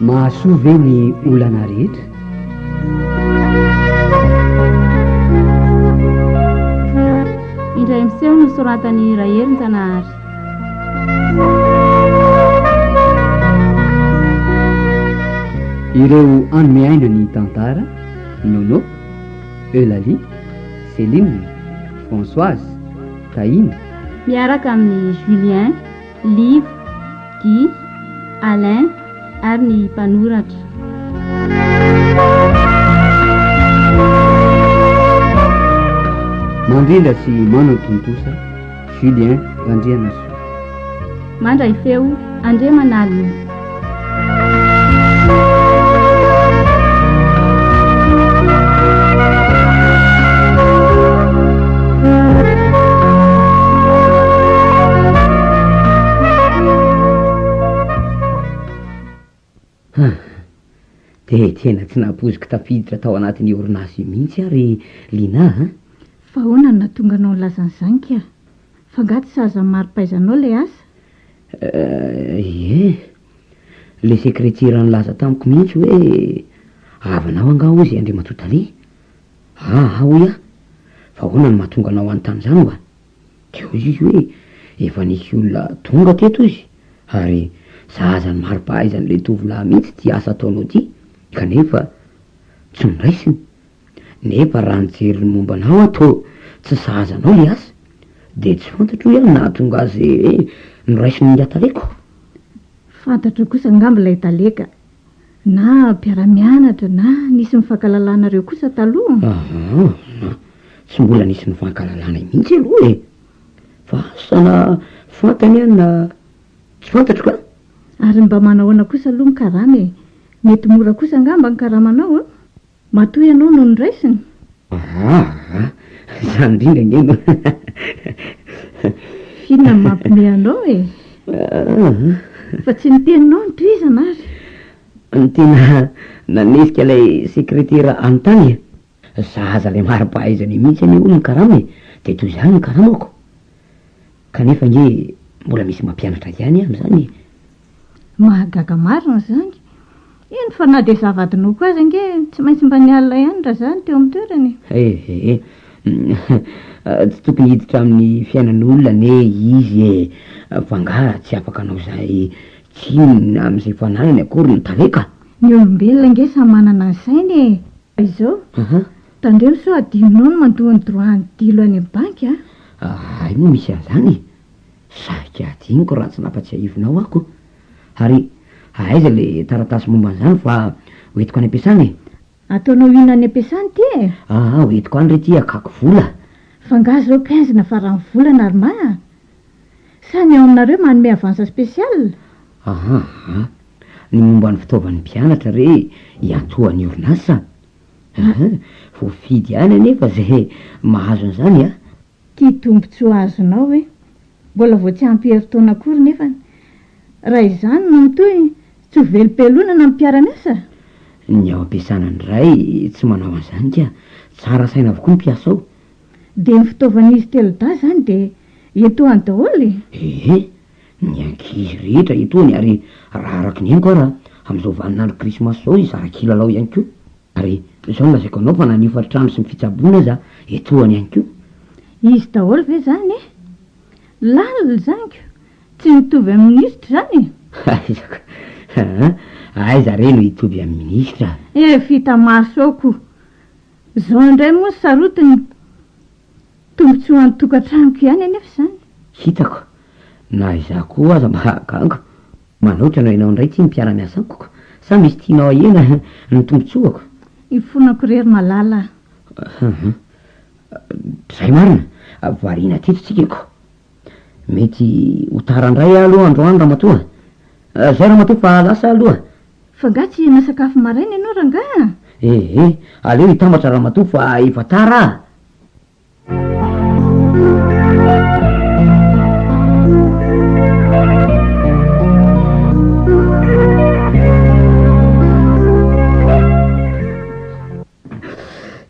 Mahasoa ve ny olana rehetra? Indray miseho ny soratan'i Raherinjanahary. Ireo hanome aina ny tantara, Nono, Eulalie, Céline, Françoise, Tahiana, Miaraka amin'i Julien. Liv, Guy, Alain ary ny mpanoratra. Mandrindra sy manan-tontosa, Julien Randrianasoa. Mandray feo, Andriamanalina. Dia tena tsy nampoiziko tafiditra tao anatin'ny orinasa io mihitsy ary Lina a. Fa ahoana no nahatonga anao nilaza an'izany kay? F'angaha tsy sahaza ny mari-pahaizanao ilay asa? Ie, le sekretera nilaza tamiko mihitsy hoe havanao angaha hoy izay Andriamatoa Dale? Aa hoy aho, fa ahoana no mahatonga anao hanontany izany hoa? Dia hoy izy hoe efa nisy olona tonga teto hozy ary sahaza ny mari-pahaizan'ilay tovolahy mihitsy ity asa ataonao ity kanefa tsy noraisiny Nefa raha nijery ny momba anao aho toa tsy sahaza anao le asa de tsy fantatro hoe nahatonga azy noraisiny ny hataleko. Fantatro kosa angamba ilay taleka, na mpiara-mianatra na nisy nifankalalanareo kosa taloha? Ahaa, tsy mbola nisy nifankalalana mihitsy aloha e! Fa asa na fantany aho na tsy fantatro ka! Ary mba manahoana kosa aloha ny karama e? Mety mora kosa angamba ny karamanao an? Matoa ianao no noraisiny? Aa! Izany indrindra ange no F'inona no mampiomehy anao e? Fa tsy ny teninao no tohizana ary? Ny tena nanetsika ilay sekretera any tany e! Zaza ilay mari-pahaizana mihitsy anie hono ny karama e! Dia toy izany ny karamako! Kanefa ange mbola misy mampianatra ihany aho amin'izany e! Mahagaga marina izany. Eny fa na dia zava-adinoko aza ange tsy maintsy mba nialona ihany raha izaho no teo amin'ny toerany e. Ehe. Tsy tokony hiditra amin'ny fiainan'olona anie izy e. Fa angaha tsy afaka hanao izay tsinona amin'izay fananany akory ny talenta? Ny olombelona ange samy manana ny sainy e. Izao, tandremo sao hadinonao ny mandoa ny droit-n'ny dilo any amin'ny banky a! Hay moa misy an'izany e. Saika hadinoko raha tsy nampatsiahivinao aho ko! Ary aiza le taratasy momba an'izany fa ho entiko any am-piasana e? Ataonao inona any am-piasana ity e? Aa ho entiko any re ity hakako vola. F'angaha zao quinze na faran'ny volana ry ma a? Sa ny ao aminareo manome avance spécial? Aa ny momba ny fitaovan'ny mpianatra re iantohan'ny orinasa? Aa voafidy ihany anefa zay mahazo an'izany a! Ty tombotsoa azonao hoe mbola vao tsy ampy herintaona akory nefany raha izany no mitohy tsy ho velom-pelonana ny mpiara-miasa? Ny ao am-piasana indray tsy manao an'izany ka, tsara saina avokoa ny mpiasa ao. Dia ny fitaovan'izy telodahy izany dia etoany daholo e? Ee, ny ankizy rehetra etoany ary raha araka ny henoko ara, amin'izao vaninandro krismasy izao izy zara-kilalao ihany koa. Ary zao lazaiko anao fa na ny hofantrano sy ny fitsaboana aza etoana ihany ko. Izy daholo ve zany e? Lalina zany ko, tsy mitovy amin'ny minisitra zany e? Aiza ko, aa aiza re no hitovy amin'ny minisitra? Efa hita maso ao ko. Zao indray moa ny sarotiny. Tombotsoa an'ny tokantranoko ihany anefa izany. Hitako. Na izaho koa aza mahagaga. Manao hitanao ianao indray ity ny mpiara-miasa amiko. Sa misy tianao ahena ny tombotsoako? Ifonako irery malala a. Izay marina. Variana teto tsika ko. Mety ho tara indray aho aloha androany ramatoa. Izay ramatoa fa lasa aho aloha. Fa angaha tsy hihinana sakafo maraina ianao rangaha? Ee, aleo hitambatra ramatoa fa efa tara a.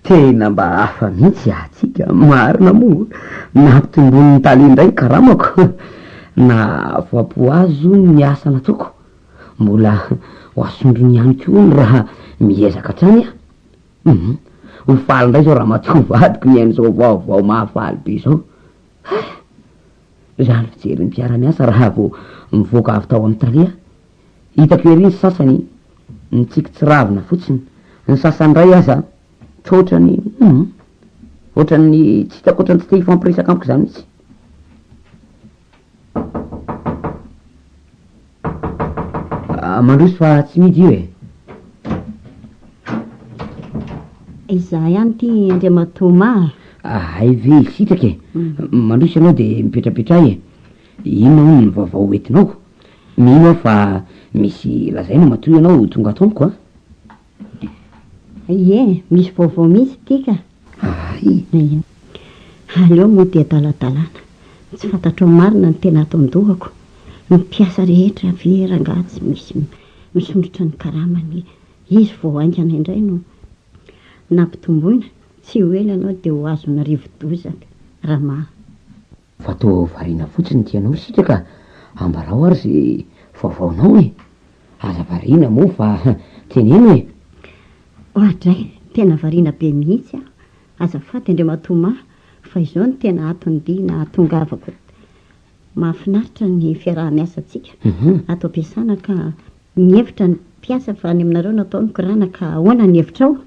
Tena mba hafa mihitsy atsika, marina moa. Nampitomboin'ny tale indray ny karamako. Na afapo azy io ny asa nataoko. Mbola ho asondrony ihany koa ny raha miezaka hatrany aho. Humm! Ho faly indray izao ramatoa vadiko mihaino izao vaovao mahafaly be izao. Hay! Zah ny fijery ny mpiara-miasa raha vao mivoaka avy tao amin'ny tale aho. Hitako ery ny sasany nitsiky tsy ravina fotsiny, ny sasany indray aza toa ohatran'ny humm! Ohatran'ny tsy hitako ohatran'ny tsy te hifampiresaka amiko izany mihitsy. Ah, mandroso fa tsy midy io e. Izaho ihany ity Andriamatoa Ma a. Ah, hay ve hisitraka e. Mm. Mandroso ianao dia mipetrapetraha e. Inona hono ny vaovao hoentinao? Mino aho fa misy lazaina matoa ianao tonga ato amiko a. Ie, misy vaovao mihitsy ity ka! Hay! Aleo moa dia daladalana, tsy fantatrao marina ny tena ato an-dohako, ny mpiasa rehetra ve rangaha tsy misy misondrotra ny karamany, izy vao haingana indray no nampitomboina, tsy ho ela ianao dia ho azon'ny rivo-doza, Rama. Fa toa variana fotsiny ity ianao sika ka, ambarao ary ze vaovaonao e! Aza variana moa fa teneno e! Oadray, tena variana be mihitsy aho, azafady Andriamatoa Mah fa izao no tena aton'ny dia nahatongavako. Mahafinaritra ny fiaraha-miasantsika ato am-piasana ka mihevitra ny mpiasa fa any aminareo no atao ny korana ka ahoana ny hevitrao?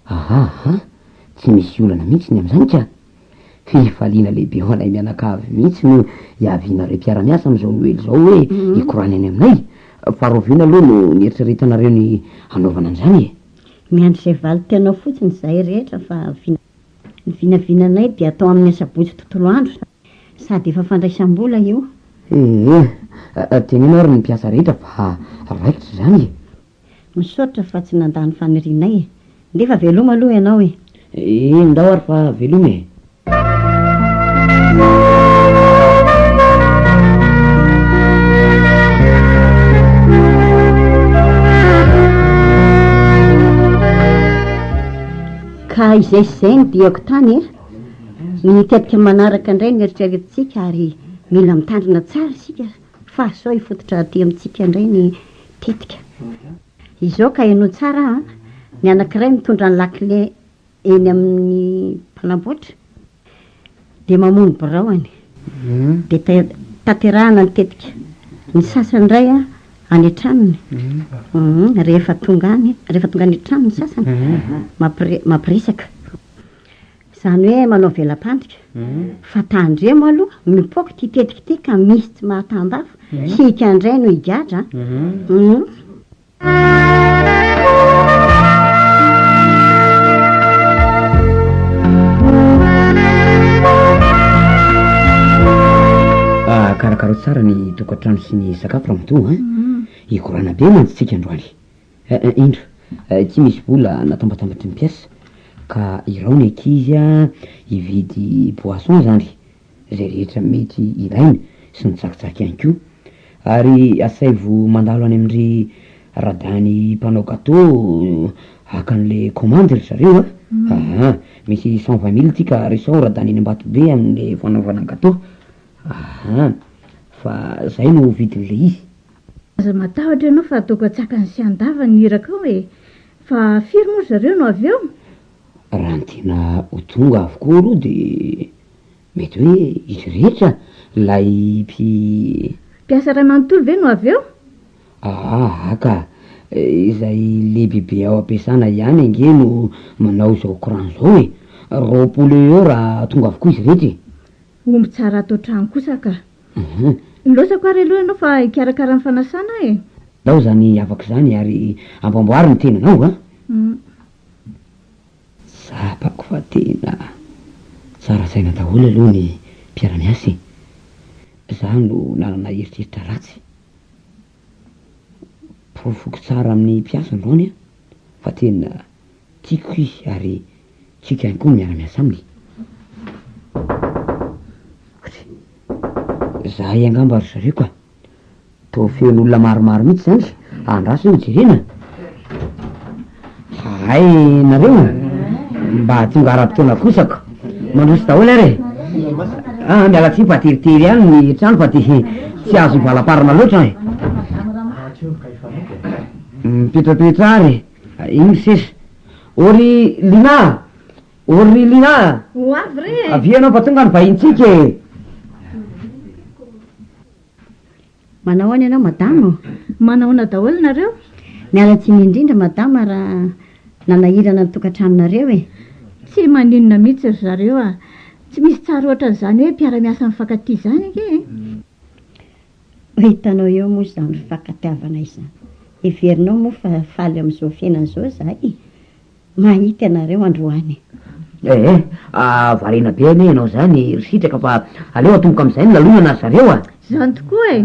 Ahahah! Tsy misy olana mihitsy ny amin'izany ka! Fifaliana lehibe ho anay mianakavy mihitsy no hiavianareo mpiara-miasa amin'izao Noely izao hoe hikorana any aminay. Fa rahoviana aloha no nieritreretanareo ny hanaovana an'izany e? Miandry izay valintenao fotsiny izahay rehetra fa vina. Ny vinavinanay dia atao amin'ny asabotsy tontolo andro sady efa fandraisam-bola io. Ee, teneno ary ny mpiasa rehetra fa raikitra izany e! Misaotra fa tsy nandà ny fanirianay e! Nefa veloma aloha ianao e! Eny ndao ary fa veloma e! Ka izay sy izay no diako tany e! Ny tetika manaraka indray no eritreretintsika ary mila mitandrina tsara isika. Fa sao hifototra aty amintsika indray ny tetika. Izao ka henoy tsara an! Ny anankiray mitondra ny lakile eny amin'ny mpanamboatra dia mamono biraony. Dia tanterahana ny tetika. Ny sasany indray any an-tranony. Rehefa tonga any, rehefa tonga any an-trano ny sasany, mampiresaka. Izany hoe manao vela-pandrika. Fa tandremo aloha, mipoaka ity tetika ity ka misy tsy mahatambavy. Hika indray no higadra an. Karakaro tsara ny tokantrano sy ny sakafo ramatoa an. Hikorana be mantsy tsika androany. Eeh indro, ity misy vola natambatambatry ny mpiasa ka irao ny ankizy hividy boisson zany, zay rehetra mety ilaina sy ny tsakitsaky ihany koa. Ary asaivo mandalo any amin-dry Radany mpanao gateau haka an'le commande ry zareo a! Aa! Misy cent vingt mille ity ka resaho Radany eny Ambatobe amin'le fanaovana gateau. Aa! Fa zay no vidin'le izy. Aza matahotra ianao fa ataoko an-tsakany sy an-davany ny irakao e! Fa firy moa ry zareo no avy eo? Raha ny tena ho tonga avokoa aloha dia mety hoe izy rehetra ilay mpi. Mpiasa iray manontolo ve no avy eo? Aa ka! Izay lehibibe ao am-piasana ihany ange no manao izao courant izao e! Roapolo eo eo raha tonga avokoa izy rehetra e! Omby tsara ato an-trano kosa ka! Ahh. Nilaozako ary aloha ianao fa hikarakara ny fanasana aho e! Ndao izany havako izany ary amboamboaro ny tenanao a! Hum. Tsapako fa tena tsara saina daholo aloha ny mpiara-miasa e! Izaho no nanana eritreritra ratsy. Porofoko tsara amin'ny mpiasa androany aho fa tena. Tiako izy ary tiako ihany koa ny miara-miasa aminy. Zay angamba ry zareo ka! Toa feno olona maromaro mihitsy zany izy, andraso ve ho jerena? Hay nareo mba tonga ara-potoana kosa ko! Mandroso daholo ary e! Ah, miala tsiny fa teritery ihany ny trano fa de tsy azo hivalamparana loatra an e! Mipetrapetra ary e! Iny sisa. Ô ry Lina a! Ô ry Lina a! Ho avy re e! Avia ianao fa tonga ny vahintsika e! Manao ahoana ianao madama ô? Manahoana daholo nareo? Miala tsiny indrindra madama raha nanahirana ny tokantranonareo e! Tsy maninona mihitsy ry zareo a! Tsy misy tsara ohatran'izany hoe mpiara-miasa mifankatia izany ange e! Ho hitanao eo moa izany fifankatiavana izany. Heverinao moa fa faly amin'izao fiainana izao izahay e! Mahita anareo androany. Eh eh, variana be anie ianao izany ry Sitraka fa aleo atomboka amin'izay ny lalonana ry zareo a! Izany tokoa e!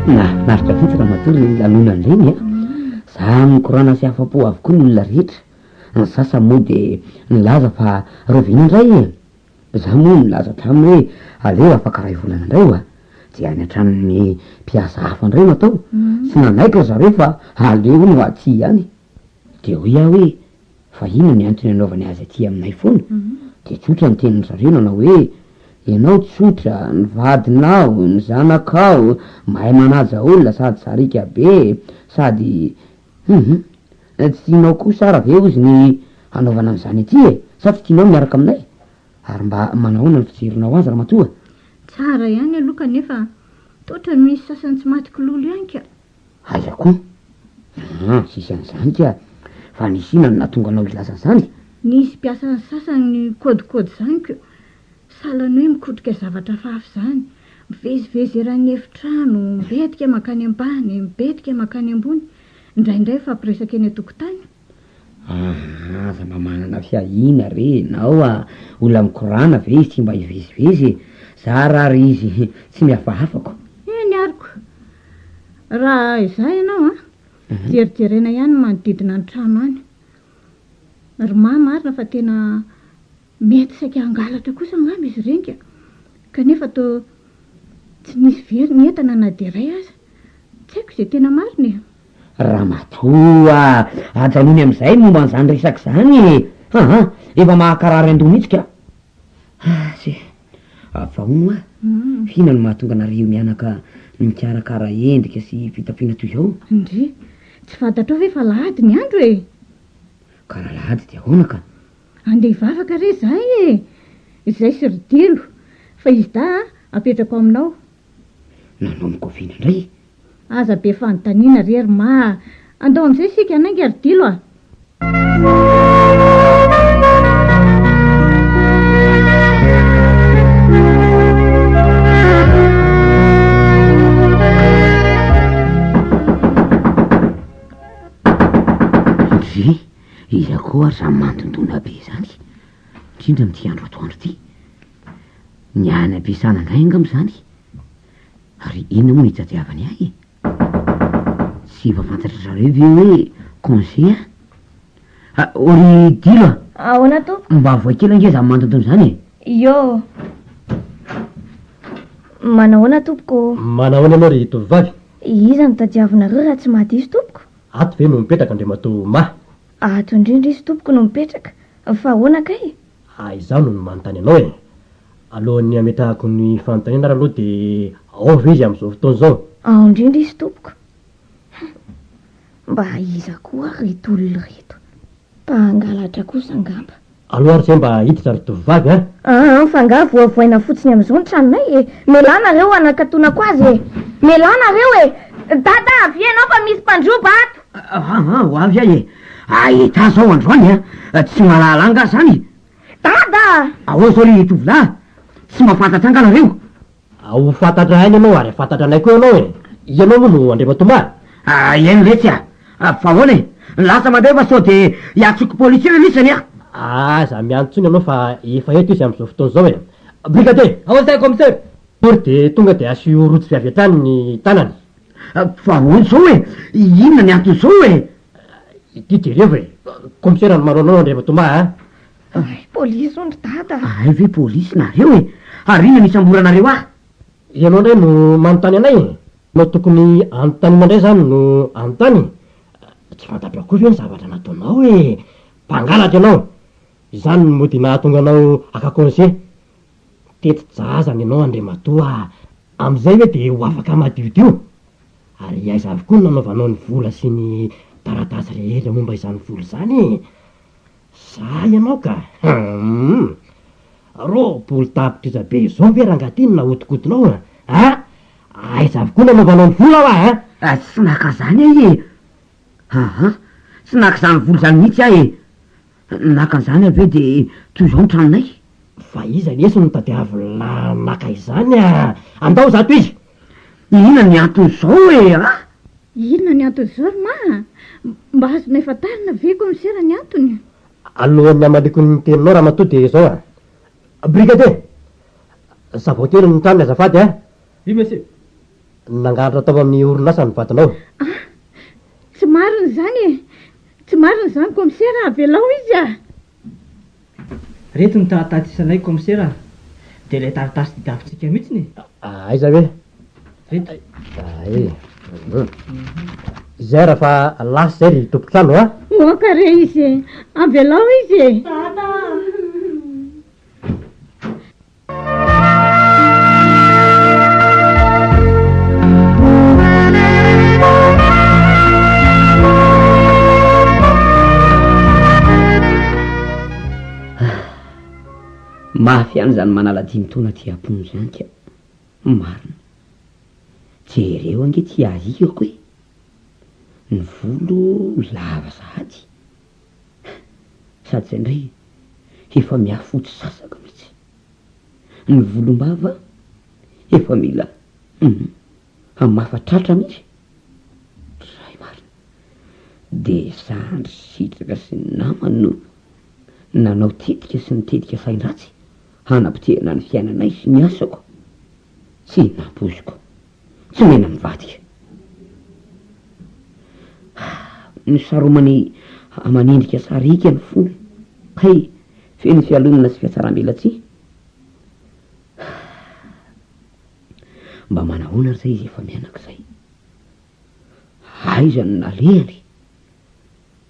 Nahafinaritra vitsy ramatoa le lanonana ireny a. Za mikorana sy afa-po avokoa ny olona rehetra. Ny sasany moa de nilaza fa rahoviana indray e. Za moa nilaza hatramin'ny hoe aleo afaka iray volana indray hoa. Dia any an-tranon'ny mpiasa hafa indray no atao. Tsy nanaiky ry zareo fa aleo hono aty ihany e. Dia hoy aho hoe, Fa inona ny antony anaovany azy aty aminay foana? Dia tsotra ny tenin-dry zareo nanao hoe, Ianao tsotra, ny vadinao, ny zanakao, mahay manaja olona sady sariaka be, sady hum hum, tsy tianao kosa ary ve hozy ny hanaovana an'izany aty e? Sa tsy tianao ny miaraka aminay? Ary mba manahoana ny fijerinao azy ramatoa? Tsara ihany aloha kanefa toa ohatran'ny misy sasany tsy maty kilolo ihany ka! Aiza koa? Aa! tsisy an'izany ka! Fa nisy inona no nahatonga anao hilaza an'izany? Nisy mpiasan'ny sasany nikaodikaody izany ko! Sahala ny hoe mikotrika zavatra hafahafa izany. Mivezivezy eran'ny efitrano, mibetika mankany ambany, mibetika mankany ambony, indraindray mifampiresaka eny an-tokotany. Aa! aza mba manana fiahiana re enao a! olona mikorana ve izy tsy mba hivezivezy e! za ra ary izy tsy mihafahafako. Eny ary ko! raha izaho ianao an! jerijerena ihany ny manodidina ny trano any! ry mah marina fa tena mety saika hangalatra kosa angamba izy ireny ka! kanefa toa tsy nisy very ny entana na dia iray aza! tsy haiko izay tena marina e! Ramatoa a! Ajanony amin'izay momba an'izany resaka izany e! Aa! Efa mahakarary an-doha mihitsy ka! Azy! Fa hono hoa, inona no mahatonga anareo mianaka mikarakara endrika sy fitafiana toy izao? Ndry! Tsy fantatrao ve fa lahady ny andro e! Ka raha lahady dia ahoana ka? Andeha hivavaka re izahay e! Izay sy ry Delo! Fa izy dahy a, apetrako aminao. nanomboka oviana indray? Aza be fanontaniana re ry ma a! Andao amin'izay isika hanainga ry Dilo a! Andry, iza koa ary izany manodidona be izany, indrindra amin'ity andro atoandro ity? Ny ahy any am-piasana indray angamba izany. Ary inona moa no hitadiavany ahy e? Tsy efa fantatra zareo ve hoe congé an? Ah, oh, ry Dilo a! Ahoana tompoko? Mba avoay kely ange izany mandontona izany e! Iô! Manahoana tompoko? Manahoana ianao ry tovovavy? Iza no tadiavinareo raha tsy mahadiso tompoko? Ato ve no mipetraka Andriamatoa Mah? Ato indrindra izy tompoko no mipetraka. Fa ahoana kay? Aa izaho no manontany anao e! Alohan'ny hametrahako ny fanontaniana ary aloha dia ao ve izy amin'izao fotoana izao? Ao indrindra izy tompoko! Hum! Mba iza koa ary ireto olona ireto? Mpangalatra kosa angamba! Aleo ary izay mba hiditra ry tovovavy a! Aa fa angaha voavoaina fotsiny amin'izao ny tranonay e! Melà nareo hanakatonako azy e! Melà nareo e! Dada avia ianao fa misy mpandroba ato! Aa! ho avy aho e! Ahita zao androany an! Tsy mahalala angaha zany? Dada a! Ahoa zao ry tovolahy? Tsy mahafantatra angaha nareo? A! ho fantatra ahy ianao ary hahafantatra anay koa ianao e! Ianao moa no Andriamatoa a? Aa! eny re tsy a! fa ahoana e! lasa mandray fa sao de hiantsoko polisy eo ianao isany an! Aa! aza miandry intsony ianao fa efa eto izy amin'izao fotoana izao e! Brigadier! Ahoana izay Commissaire? Pory dia tonga dia asio rojo vy avy hatrany ny tanany. Fa hoy izao hoe, inona ny anton'izao e? Ity jereo e! Komisera no manao anao Andriamatomaha a! Hay polisy hono ry dada! Hay ve polisy nareo e! Ary inona no isamboranareo ahy? Ianao indray no manontany anay e! Ianao tokony anontaniana indray izany no anontany e! Tsy fantatro akory ve ny zavatra nataonao e! Mpangalatra ianao! Izany no mody nahatonga anao haka konse! Tety jaza ny anao Andriamatoa a! Amin'izay ve dia ho afaka madiodio? Ary aiza avy koa no nanaovanao ny vola sy ny taratasy rehetra momba izany vola izany e? Za ianao ka! Hum! Roapolo tapitrisa be izao ve rangahy ity no nahodikodinao a! A! Aiza avy koa no nanaovanao ny vola hoa a! A! Tsy naka izany aho e! Aa! Tsy naka izany vola izany mihitsy aho e! Naka an'izany aho ve dia toy izao ny tranonay? Fa iza anie sy no tadiavin'la maka izany a! Andao izaho tohizo! Inona ny anton'izao e a! Inona ny anton'izao ry ma a! Mba azonay fantarina ve koa misera ny antony? Alohan'ny hamaliko ny teninao ramatoa dia izao a! Brigade! Zavao kely ny tranony azafady a! Oui monsieur! Nangalatra tao amin'ny orinasa ny vadinao. Ah! Tsy marina izany e! Tsy marina izany Komisera, avelao izy ah! Reto ny tahatatisanay Komisera ah! Dia ilay taratasy didavintsika mihitsiny e! Aiza ve? Reto. Ay. Izay raha fa lasa izay ry tompotrano a! Moaka re izy e! Avelao izy e! Tata ah! mafy ihany izany manala dimy taona aty am-pony izany ka marina jereo ange ity ahiako e ny volo lava sahady Sady indray efa mihafotsy sasaka mitsy ny volombava efa mila hum hamafa tratra mitsy Ray marina de zandry sitraka sy ny namany no nanao tetika sy ny tetika sain-dratsy hanapotehana ny fiainanay sy ny asako. sy ny mpampozoko. Tsy omena mivadika. Nosaromany aman'endrika sariaka ny fony, kay feno fialonana sy fiatsaram-belatsihy. Mba manahoana ary izay izy efa mianak'izay? Aiza no nalehany?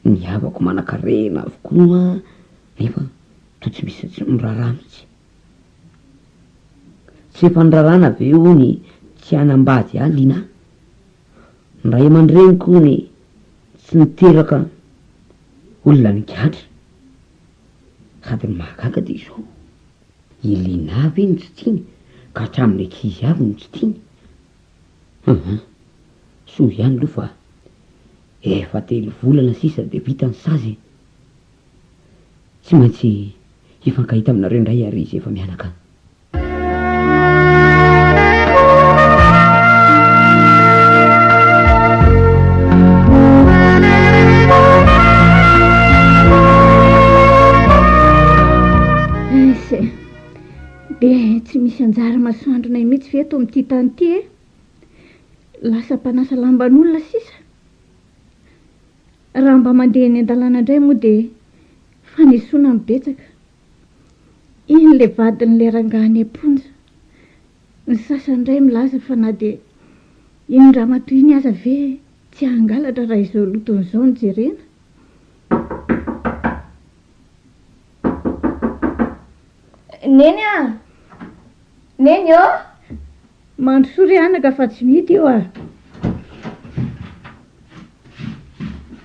Ny havako manankarena avokoa nefa toa tsy misy, tsy miraharaha mihitsy. Tsy efa niraràna ve hono i tsy hanambady ahy Lina? Ny ray aman-dreniko hono tsy niteraka olona nigadra sady ny mahagaga dia izao, i Lina ve no tsy tiany ka hatramin'ny ankizy avy no tsy tiany? Hum hum, soa ihany aloha fa efa telo volana sisa dia vita ny sazy e! Tsy maintsy hifankahita aminareo indray ary izy efa mianaka any. tsy misy anjara masoandronay mihitsy ve eto amin'ity tany ity e lasa mpanasa lamban'olona sisa Raha mba mandeha eny an-dalana indray moa dia fanesoana no betsaka. Iny ilay vadin'ilay rangahy any am-ponja. Ny sasany indray milaza fa na dia iny ramatoa iny aza ve tsy hangalatra raha izao lotony izao no jerena. Neny a! Neny ô! Mandrosoa ry anaka fa tsy vita io a!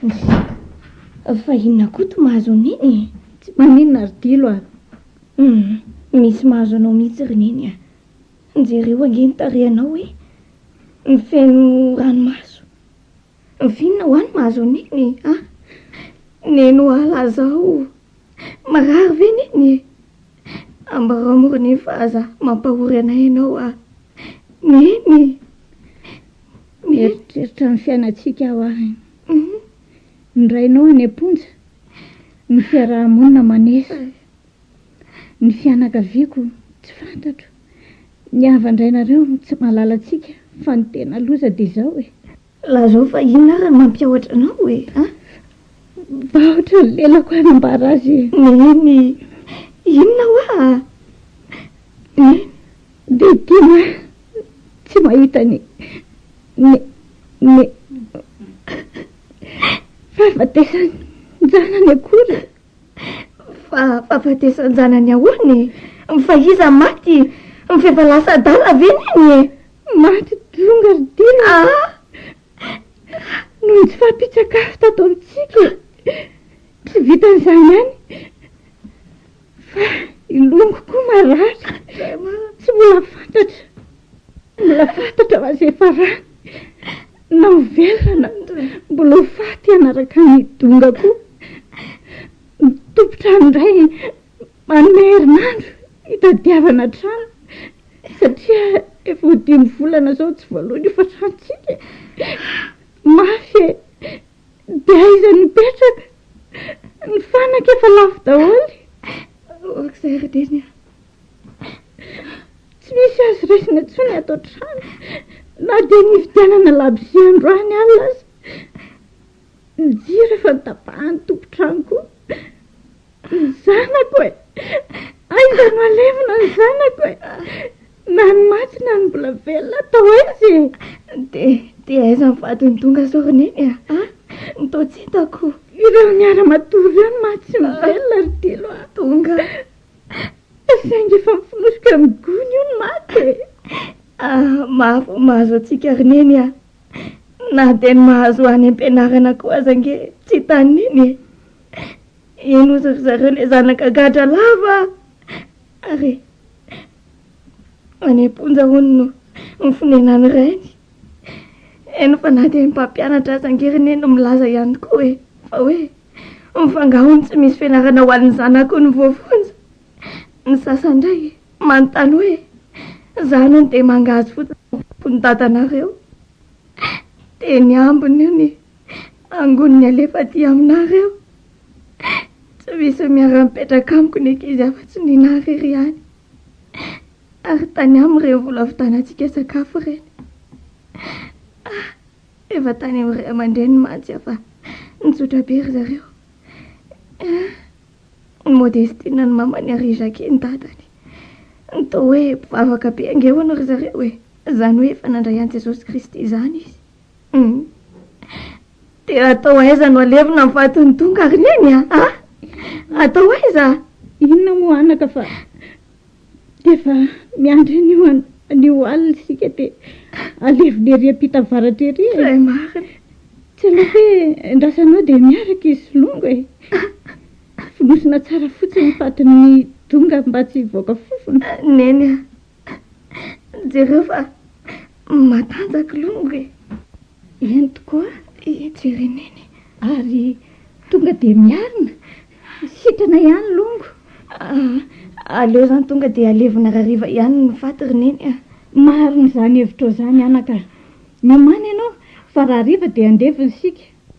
Nssy! Fa inona Koto mahazo an'i Neny e? Tsy maninona ry Dilo a! Humm! Misy mahazo anao mihitsy ry Neny a! Jereo ange ny tarehinao hoe mifeno ranomaso! Vinona ho any mahazo an'iny a! Neno ala zao marary ve neny e! Ambarao morony fa aza mampahory anay ianao a! Neny! Mieritreritra ny fiainantsika aho a! Ny rainao any am-ponja, ny fiaraha-monina maneso, ny fianakaviako tsy fantatro. Ny havan-drainareo no tsy mahalala antsika fa ny tena loza dia izao e. Lazao fa inona ary no mampiahotra anao e a? Mivahotra ny lelako hanambara azy e. Neny, inona hoa a? Neny. Dia tiana tsy mahita ny ny ny fahafatesan'ny zanany akory. Fa fahafatesan-janany ahoana e? Fa iza maty? F'efa lasa adala ve neny e? Maty donga ry Dia a! Noho tsy fahampian-tsakafo tato amintsika e! Tsy vitan'izany ihany fa i Longo koa marary, tsy mbola fantatra. Mbola fantatra fa izay farany na ho velona na mbola ho faty hanaraka ny donga koa ny tompon-trano indray manome herinandro hitadiavana trano satria efa ho dimy volana izao tsy voaloina io fatrantsika mafy e dia aiza no hipetraka ny fanaka efa lafo daholo ok zay ry Denia Tsy misy azo raisina intsony ato an-trano, na dia nividianana labozia androany alina aza. Ny jiro efa notapahan'ny tompon-trano koa. Ny zanako e! Aiza no alevina ny zanako e! Na ny maty na ny mbola velona atao aiza e! Dia, dia aiza ny vadin'i Donga izao ry Neny a? Ah, ny toa tsy hitako. Ireo niara-matory ireo no maty sy ny velona ry Dilo a! Donga! Saingy efa mifonofoka amin'ny gony io ny maty e! Ah, mafy ny mahazo antsika ry Neny ah! Na dia ny mahazo any am-pianarana koa aza ange tsy tany Neny e! Eny ozy ry zareo ilay zanaka gadra lava ah! Ary e! any am-ponja hono no mifonenan'ny rainy. Eny fa na dia ny mpampianatra aza ange ry Neny milaza ihany koa e! Fa hoe. Ny fangahony tsy misy fianarana ho an'ny zanako no voafonja. Ny sasany indray manontany hoe, Izaho anie dia mangahazo fotsiny ny zakon'i dadanareo. Dia ny ambiny io ny angoniny alefa aty aminareo. Tsy misy miara-mipetraka amiko ny ankizy afa-tsy ny nà irery ihany. Ary tany aminy ireny vola vitanantsika sakafo ireny. Ah! Efa tany amin'ny ray aman-dreniny mantsy aho fa nitsotra be ry zareo. Ny Modestine an'i mamany ary i Jackie ny dadany. Toa hoe mpivavaka be ange hono ry zareo e! Izany hoe efa nandray an'i Jesosy Kristy izany izy. Dia atao aiza no alevina ny fatiny tonga ry neny a? Atao aiza? Inona moa anaka fa Rehefa miandry an'io an- an'io alina isika dia alevina ery am-pita avaratra ery e. Izay marina. Tsy aleo ve andrasanao dia miaraka isolongo e. Fonosina tsara fotsiny ny fatin'ny donga mba tsy hivoaka fofona. Neny a, jereo fa matanjaka longo e. Eny tokoa i Jerenene ary tonga dia miarina. Sitrana ihany longo. Ah, aleo izany tonga dia alevina rariva ihany ny faty ry Neny ah. Marina izany hevitrao izany anaka. Miomàna ianao fa rariva dia andevo ny sika.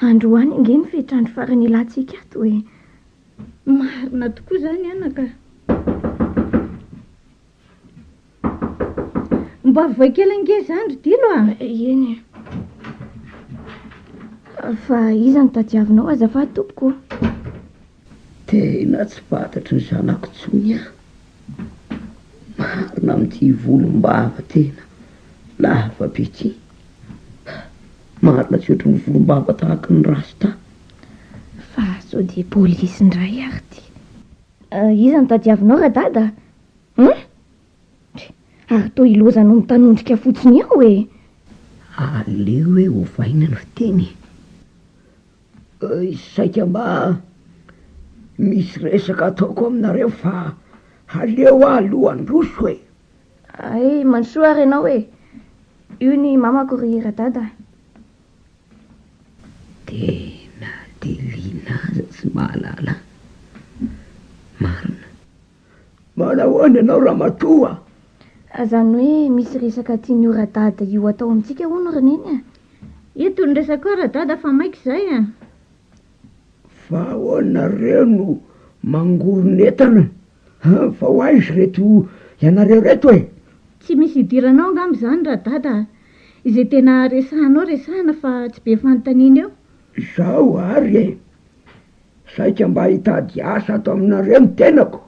Androany ange ny fehitr'andro farany ilantsika ato e! Marina tokoa izany anaka. Mba voay kely ange izany ry Dilo a! Eny e. Fa iza no tadiavinao azafady tompoko? Tena tsy fantatry ny zanako intsony aho. Marina amin'ity volom-bava tena lava be ity. Marina tsy ohatry ny volombava tahaka ny rasta. Fa sao dia polisy indray ary ity. Iza no tadiavinao radada a? Hum? Ary toa i Loza no mitanondrika fotsiny ao e! Aleo hoe ovaina ny fiteny e! Saika mba misy resaka ataoko aminareo fa aleo aho aloha handroso e! Hay Mandrosoa ary ianao e! Io ny mamako ry radada. Tena delina aza tsy mahalala marina. Manahoana ianao ramatoa a! Azany hoe misy resaka tian'io radada io atao amintsika hono ry neny a! Eto ny resaka koa radada fa maika izay a! Fa ahoana nareo no mangoron'entana An! fa ho aiza reto ianareo reto e? Tsy misy hidirana ao angamba izany ra Dada a! izay tena resahanao resahina fa tsy be fanontaniana eo. Izaho ary e! saika mba hitady asa ato aminareo ny tenako!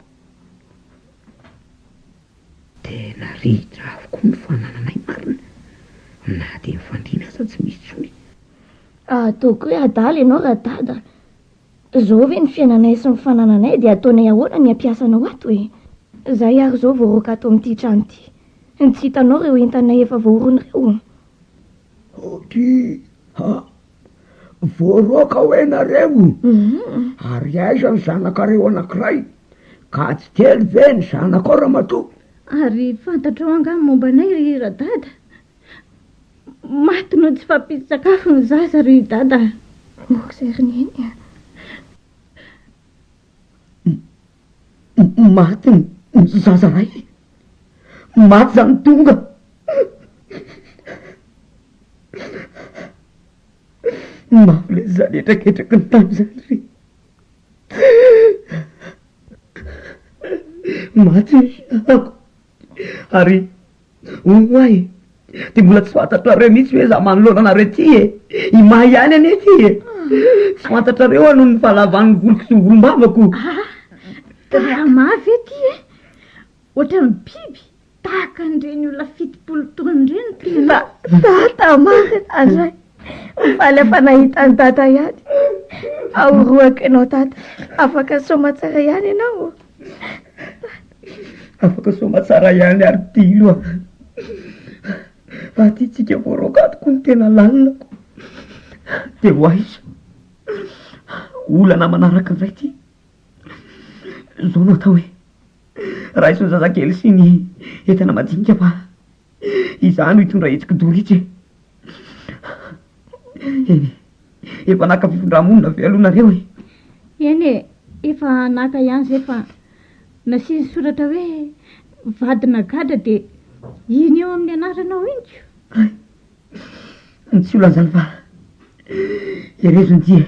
Tena ritra avokoa ny fanananay marina na dia mifandimby aza tsy misy intsony. Ataoko hoe adala ianao ra Dada a! Zao ve ny fiainanay sy ny fanananay dia ataonay ahoana ny hampiasanao ato e? Zay ary zao vao roaka ato amin'ity trano ity. Tsy hitanao reo entanay efa voaorony reo? Aoky ha! Voaroaka hoe nareo? Ary aiza ny zanakareo anakiray? Ka tsy telo ve ny zanakao ramatoa? Ary fantatrao angaha momba anay ry radada? Maty noho ny tsy fahampian-tsakafo ny zaza ry Dada a! Moa izay ry Neny a! Maty ny zaza ray! Maty izany tonga mafy ilay zaza hetraketraky ny tany izany ry! Maty ny zanako! Ary hono ho'ahy dia mbola tsy fantatrareo mihitsy hoe izaho manoloana anareo ity e! I Maha ihany anie ity e! Tsy fantatrareo hono ny fahalavan'ny voloko sy ny volom-bavako! Ah! Gaga maha ve ity e! Ohatran'ny biby tahaka an'ireny olona fitopolo taona ireny tena! Dada marina indray! Mifaly afa nahita an'i Dada ihany! Fa ho rohako ianao Dada! Afaka soa aman-tsara ihany ianao ô! Afaka soamantsara ihany ary dilo a! Fa ty tsika voaroakatoko no tena lalinako. Dia ho aiza? Olana manaraka indray ty. Izao no atao e! Raiso ny zazakely sy ny entana madinika fa. Izaho no hitondra hetsiky Dorika e! Eny e! Efa naka fifindra-monina ve aloha nareo e? Eny e! Efa naka ihany izay fa nasiany soratra hoe vadina gadra dia iny eo amin'ny anaranao iny ko! ny tsy ho lazany fa herezo ny dia e.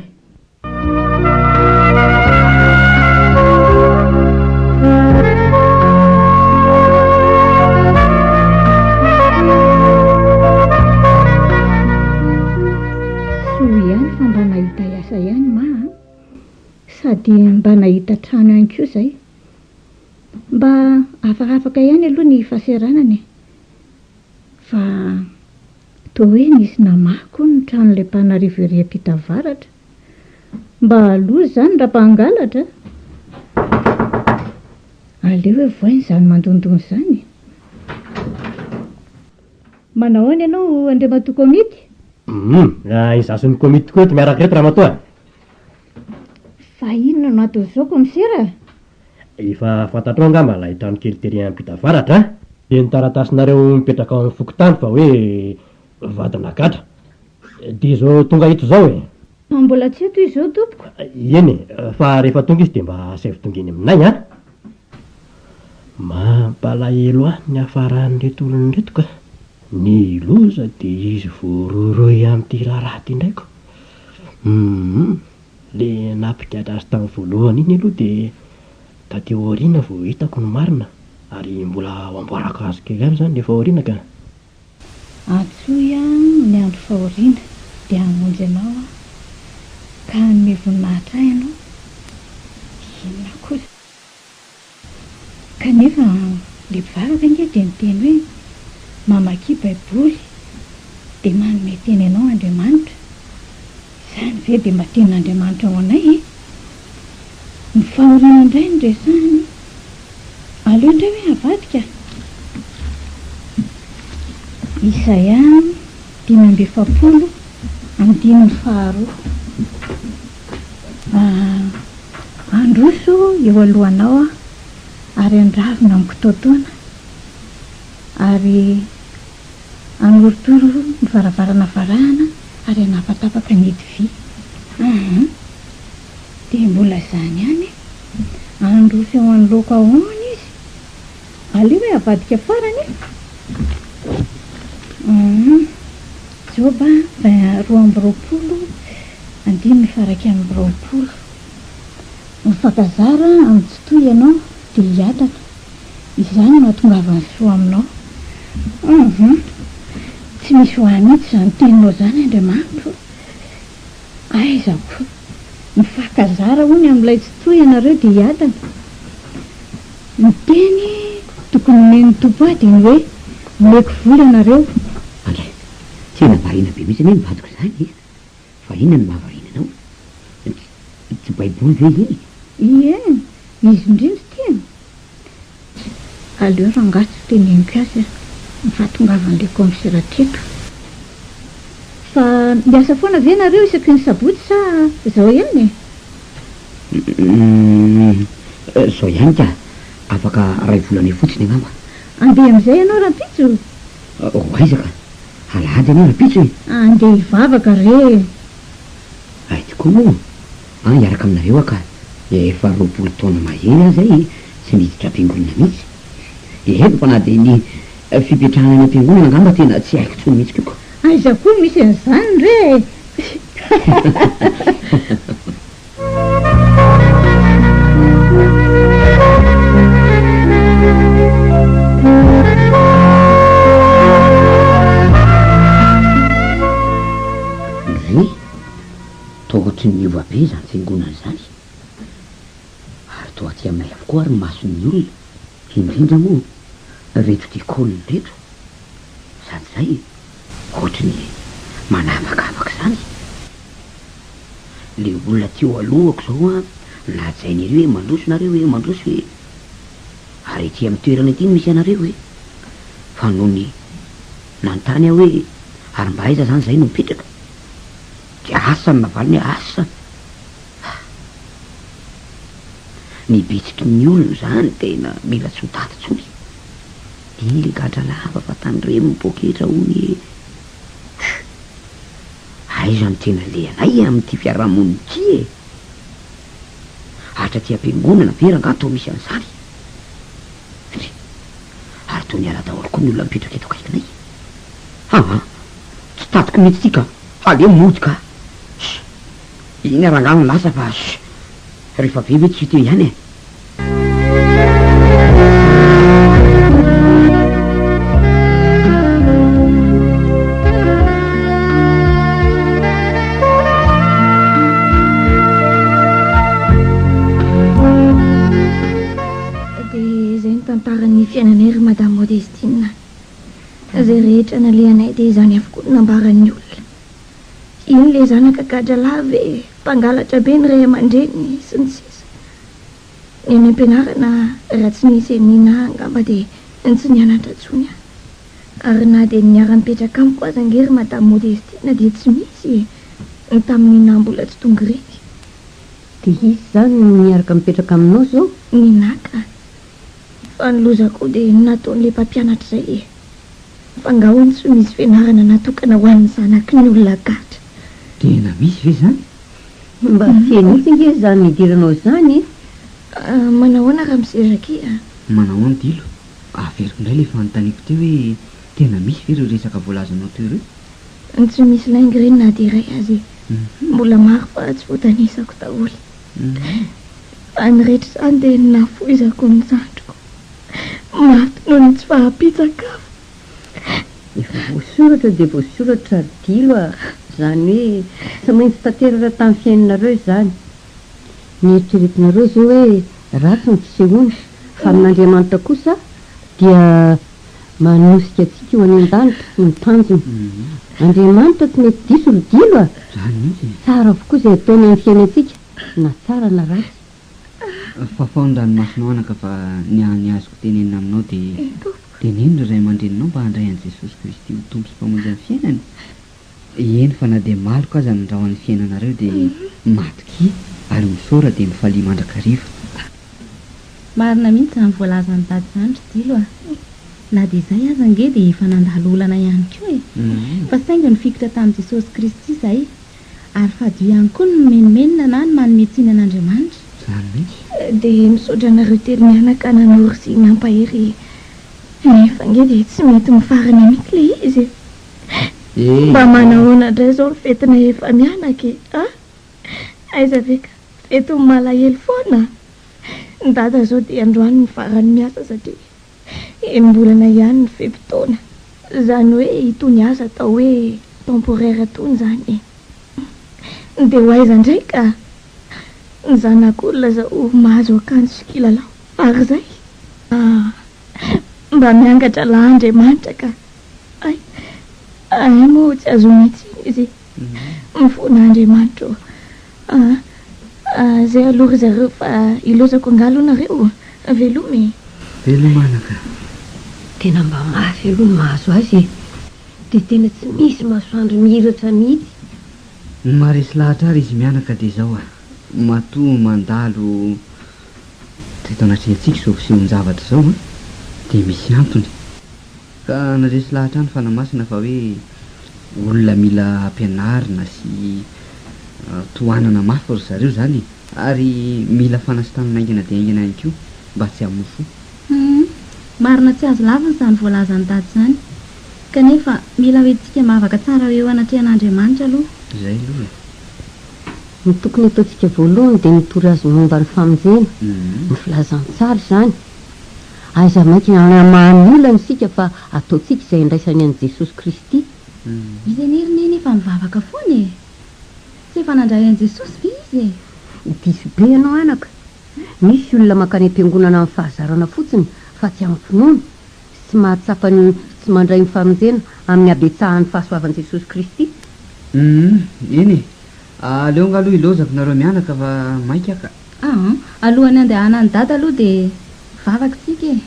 Soa ihany fa mba nahita asa ihany ma a! Sady mba nahita trano ihany koa izay. Mba afakafaka ihany aloha ny fahasahiranana e! Fa toa hoe nisy namaha koa ny tranon'ilay mpanarivo ery ampita avaratra. Mba aloha izany raha mpangalatra a! Aleo hevohina izany mandondona izany e! Manao ahoana ianao Andriamatoa Komity? Humm! Izaho sy ny Komity tokoa eto miaraka ireto Ramatoa a! Fa inona no aton'ny zoky misera? Efa fantatrao angamba ilay trano kely tery ampita avaratra an! Dia ny taratasinareo mipetraka ao amin'ny fokontany fa hoe vadina gadra. Dia izao tonga eto izao e! Fa mbola tsy eto izy izao tompoko. Eny e, fa rehefa tonga izy dia mba asaivo tonga eny aminay an! Mampalahelo ahy ny hafaran'ireto olona ireto ka! Ny loza dia izy voarohirohy amin'ity raharaha ity indray ko! Humm! Le nampigadra azy tamin'ny voalohany iny aloha dia taty aoriana vao hitako ny marina ary mbola ho amboarako azy kely ihany izany le fahoriana ka! Antsoy aho ny andro fahoriana dia hamonjy anao aho ka hanome voninahitra ahy ianao! Inona kosa? Kanefa le mpivaro ve ange dia niteny hoe mamakia baiboly dia manome teny anao Andriamanitra? Izany ve dia mba tenin'Andriamanitra ho anay e? Ny fahoriana indray no resahiny. Aleo indray hoe avadika. Isaia dimy amby efapolo andininy faharoa. Handroso eo alohanao aho ary handravona amiko toatoana ary hanorotoro ny varavarana varahana ary hanapatapaka ny ody vy. Aa dia mbola izany ihany e! Handroso eo anoloako ahoana izy? Aleo hoe avadika farany e! Humm. Joba vingt roa amby roapolo andininy faha iraika amby roapolo. Mifankazara amin'ny tsitoha ianao dia hiataka. Izany no hahatongavan'ny soa aminao. Humm. Tsy misy ho ahy mihitsy izany teninao izany Andriamanitro. Aiza koa! Mifankazara hono amin'ilay tsy toy ianareo dia hiadana. Ny teny tokony homen'ny Tompo ahy dia ny hoe, Omeko vola ianareo. Andray, tena variana be mihitsy anie ny vadiko izany e! Fa inona no mahavariana anao? Tsy Baiboly ve iny? Ie, izy indrindra tena. Aleo rangahy tsy teneniko azy an! ny fahatongavan'ilay kaomisera teto. Fa miasa foana ve nareo isaky ny sabotsy sa zao ihany e? Humm! zao ihany ka! afaka ray volana eo fotsiny angamba. Andeha amin'izay ianao rampitso? Ho aiza ka! alahady anie rampitso e! Andeha hivavaka re e! Hay tokoa moa! An hiaraka aminareo aho ka efa roapolo taona mahery aho zay tsy niditra am-piangonana mihitsy. Dia henoko fa na dia ny fipetrahana any am-piangonana angamba tena tsy haiko intsony mihitsy koa ka. Aiza koa no misy an'izany re e! Toa ohatry ny miova be izany fiangonana izany ary toa aty aminay avokoa ary ny mason'ny olona, indrindra moa ireto tia col ireto, sady izay ohatry ny manavakavaka izany le olona teo alohako izao an, nahajainy ery hoe mandroso nareo e, mandroso e, ary ety amin'ny toerana ety no misy anareo e, fa nony nanontany aho hoe ary mba aiza izany izahay no mipetraka? Dia asa ny navaliny hoe asa. Ah! Ny bitsiky ny olona izany tena mila tsy ho daty intsony. Iny ilay gadra lava fa tandremo ny poketra hono ee. Tchuh! Aiza ny tena lehilahy amin'ity fiaraha-monina ity e? Hatry aty am-piangonana ve rangaha toa misy an'izany? Ndry! Ary toa niala daholo koa ny olona mipetraka eto akaikinay. Aa! Tsy tatiko mihitsy ity ka! Fa le mody ka. Ssy. Iny rangahy no lasa fa ssy. Rehefa be ve tsy teo ihany e. Dia izay no tantaran'ny fiainanay ry madame Modestine. Fa izay rehetra nalehanay dia izany avokoa no nambaran'ny olona. Iny ilay zanaka gadra lahy ve, mpangalatra be ny ray aman-dreniny, sy ny sisa Ny any am-pianarana raha tsy nisy an'i Nina angamba dia tsy nianatra intsony aho. Ary na dia ny niara-nipetraka amiko aza ange ry Madame Modestine dia tsy misy e! Ny tamin'i Nina mbola tsy tonga ireny. Dia iza izany no miaraka mipetraka aminao izao? Nina ka! Fa ny loza koa dia nataon'ilay mpampianatra izay e! Fa nga hono tsy ho misy fianarana natokana ho an'ny zanaky ny olona gadra? Tena misy ve izany? Mba feno mihitsy ange izany nidiranao izany e! Ah, manahoana ramose Jackie a? Manahoana Dilo? Averiko indray ilay fanontaniako teo hoe tena misy ve ireo resaka voalazanao teo ireo? Tsy misy lainga ireny na dia iray aza e! Mbola maro fa tsy voatanisako daholo. Fa ny rehetra izany dia nafoizako ny zandriko. Maty noho ny tsy fahampian-tsakafo. Efa voasoratra dia voasoratra ry Dilo a! Izany hoe tsy maintsy tanteraka tamin'ny fiainanareo izany. Nieritreretinareo izao hoe ratsy ny fisehoana fa amin'Andriamanitra kosa dia manosika antsika ho any an-danitra sy ny tanjona. Andriamanitra tsy mety diso ry Dilo a! Tsara avokoa izay ataony amin'ny fiainantsika na tsara na ratsy. Fafao ny ranomasonao anaka fa ny hany azoko tenenina aminao dia teneno ny ray aman-dreninao mba handray an'i Jesosy Kristy ho Tompo sy Mpamonjy amin'ny fiainany Eny fa na dia maloka aza ny rahon'ny fiainanareo dia matokia ary misaora dia mifalia mandrakariva. Marina mihitsy izany voalazan'i Dada izany ry Dilo a! Na dia izay aza ange dia efa nandalo olana ihany koa e! Fa saingy nifikitra tamin'i Jesosy Kristy izahay ary fadio ihany koa ny mimenomenona na ny manome tsiny an'Andriamanitra. Izany mihitsy. Dia misaotra anareo telo mianaka nanoro sy nampahery e! Nefa ange dia tsy mety mifarana mihitsy ilay izy e! Eeh. Mba manahoana indray izao ny fetinay efa mianaka e a! Aiza ve ka, fetin'ny malahelo foana a! Ny dada izao dia androany no farany miasa satria enim-bolana ihany ny fe-potoana, izany hoe itony asa atao hoe temporaire itony izany e! Dia ho aiza indray ka ny zanak'olona izao mahazo akanjo sy kilalao fara izay? Aah! Mba miangatra lahy Andriamanitra ka Hay, hay moa tsy ahazoana intsony izy. Mifona Andriamanitra ô. Aa, zay aloha ry zareo fa hilozako angaha aloha nareo? Veloma e. Veloma anaka. Tena mba mafy aloha ny mahazo azy e. Dia tena tsy misy masoandro mihiratra mihitsy. Ny maharesy lahatra ary izy mianaka dia izao a, matoa mandalo teto anatrehantsika izao fisehon-javatra izao an, dia misy antony. Ka naresy lahatra any Fanahy Masina fa hoe olona mila ampianarina sy tohanana mafy ry zareo izany e! ary mila fanasitranana haingana dia haingana ihany koa mba tsy hamono fo. Humm! Marina tsy azo lavina izany voalazan'i Dada izany. Kanefa mila hoentintsika mivavaka tsara ho eo anatrehan'Andriamanitra aloha. Izay aloha e! Ny tokony ataontsika voalohany dia mitory Azy momba ny famonjena, ny filazantsara izany. Aiza mainka hanamaha ny olana isika fa ataontsika izay andraisany an'i Jesosy Kristy. Izay nerinay anefa nivavaka foana e! Tsy efa nandray an'i Jesosy ve izy e? Diso be ianao anaka. Misy olona mankany am-piangonana amin'ny fahazarana fotsiny fa tsy amin'ny finoana, sy tsy mahatsapa ny tsy mandray ny famonjena amin'ny habetsahan'ny fahasoavan'i Jesosy Kristy. Humm, eny e! Aleo nga aloha ilaozako nareo mianaka fa maika ka. Ah an! Alohan'ny handehanan'i Dada aloha dia vavaka isika e!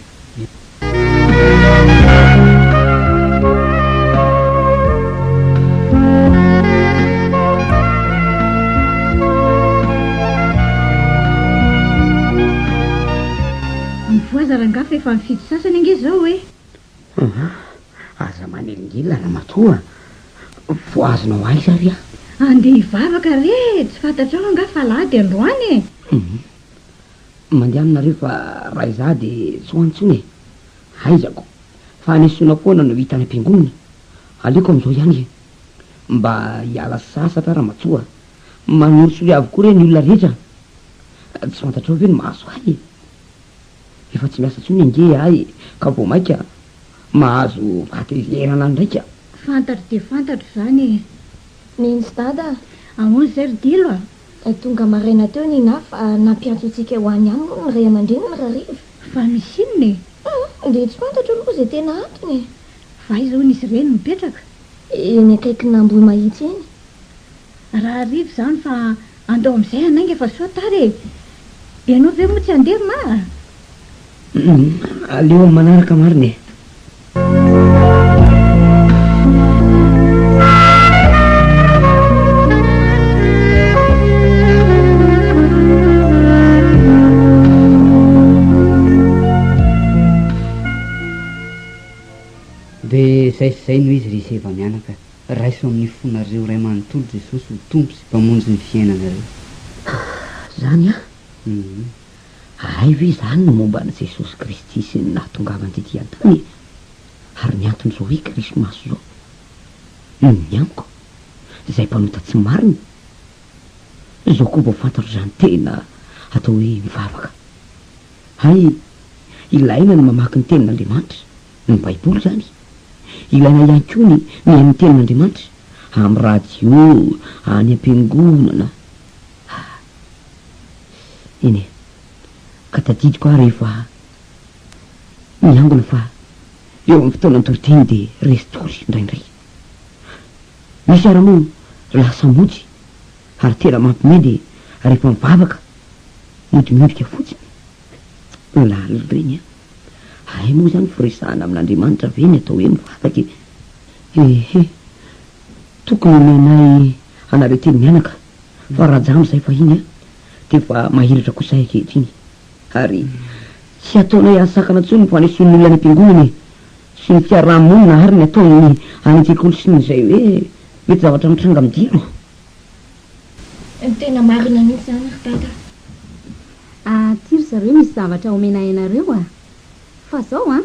Mivoaza rangahy fa efa mifidy sasany ange izao e! Aa! Aza manelingely Ramatoa a! Voahazonao aiza re a! Andeha hivavaka re e! Tsy fantatrao angaha fa alahady androany e! Hum! Mandehana re fa raha izaho dia tsy ho any intsony e! Haizako fa any Sona foana no hita any am-piangonana. Aleoko amin'izao ihany e! Mba hiala sasatra aho Ramatoa a! Manorisory avokoa re ny olona rehetra a! Tsy fantatrao ve ny mahazo ahy e! Efa tsy miasa intsony ange aho e, ka vao mainka mahazo fahatezerana ndraiky aho. Fantatro dia fantatro izany e. Nins Dada a! Ahoana izay ry Dilo a! Tonga maraina teo Nina fa nampiantso antsika ho any ihany moa ny ray aman-dreniny rahariva. Fa misy inona e? Hum! Dia tsy fantatro aloha izay tena antony e! Fa aiza hono izy ireny mipetraka? Eny akaikin'Ambohimahitsy eny. Rahariva izany fa Andao amin'izay hanainga fa soa tara e! Ianao ve moa tsy handeha ry ma a? Aleo amin'ny manaraka marina e! Dia izay sy izay no izy ry Seva mianaka. Raiso amin'ny fonareo Ray manontolo Jesosy ho Tompo sy Mpamonjy ny fiainanareo. Ah! Zany an! Hum. Haray ve zany ny momba an'i Jesosy Kristy sy ny nahatongavany tety an-tany e? Ary ny antony zao hoe krismasy zao? Hum, ny amiko, zay mpanota tsy marina. Zao koa vao fantatro zany tena atao hoe mivavaka. Hay, ilaina ny mamaky ny tenin'Andriamanitra. Ny Baiboly izany. Ilaina ihany koa ny mihaino ny Tenin'Andriamanitra, amin'ny radio, any am-piangonana. Ah, eny e. Ka tadidiko aho rehefa niangona fa eo amin'ny fotoana an-toriteny dia resy tory indraindray. Misy ara moa lasa mody ary tena mampime dia rehefa mivavaka mody miondrika fotsiny. Lalina ireny an. Hay moa izany firesahana amin'Andriamanitra ve ny atao hoe mivavaka e! Ehe! Tokony homenay anareo teny mianaka fa rajam izay fahiny an! Dia efa mahiratra koa izay ankehitriny ary tsy hataonay ahasakana intsony ny fanesoan'ny olona any am-piangonana e! Sy ny fiaraha-monina ary ny ataon'ny any an-tsekoly sy ny izay hoe mety zavatra mitranga amin'ny dia. Tena marina mihitsy zany ry Dada a! Aah ty ry zareo misy zavatra omena hainareo a! Fa zao an!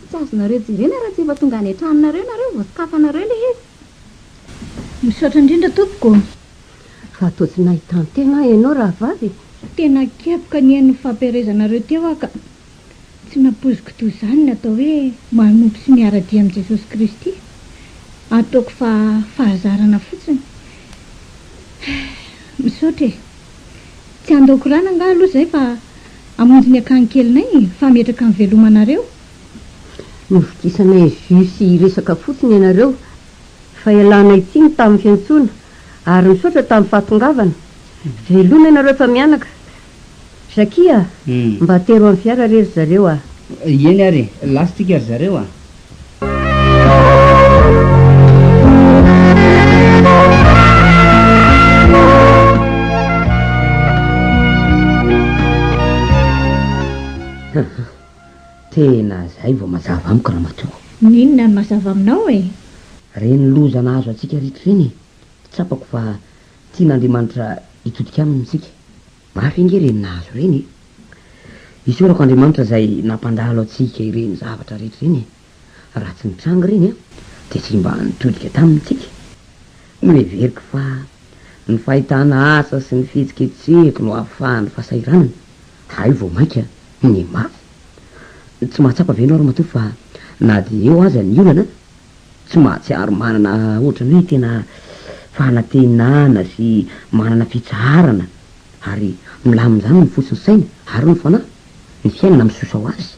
Tsy azonareo jerena raha tsy efa tonga any an-tranonareo nareo vao sokafanareo le izy! Misaotra indrindra tompoko ô! Fa toa tsy nahita an-tegna ianao rahavavy e! Tena kepoka ny eny nifampiherezanareo teo aho ka! Tsy nampoiziko toy izany ny atao hoe manompo sy miara-dia amin'i Jesosy Kristy. Ataoko fa fahazarana fotsiny. Misaotra e. Tsy handao korana angaha aloha izay fa hamonjy ny akany kelinay e. Fahametraka ny velomanareo. Novidisanay jus sy hiresaka fotsiny ianareo fa ialanay tsiny tamin'ny fiantsoana ary misaotra tamin'ny fahatongavana. Veloma ianareo efa mianaka. Zakia a! Mba atero amin'ny fiara re ry zareo a! Eny ary e! Lasintsika ry zareo a! Tena izay vao mazava amiko ramatoa. N'inona no mazava aminao e? Ireny loza nahazo antsika ritra ireny e! Tsapako fa Tian'Andriamanitra hitodika aminy isika. Mafy ange ireny nahazo ireny e! Isaorako Andriamanitra izay nampandalo antsika ireny zavatra rehetra ireny e! Raha tsy nitranga ireny an, dia tsy mba nitodika taminy isika. Noheveriko fa ny fahitana asa sy ny fihetsiketsehiko no ahafahan'ny fahasahiranana hay vao mainka ny mafy. Tsy mahatsapa ve ianao ramatoa fa na dia eo aza ny olana, Tsy mahatsiaro manana ohatran'ny hoe tena fanantenana sy manana fitsaharana ary milaminjamy ny fo sy ny saina ary ny fanahy, ny fiainana misosa ho azy.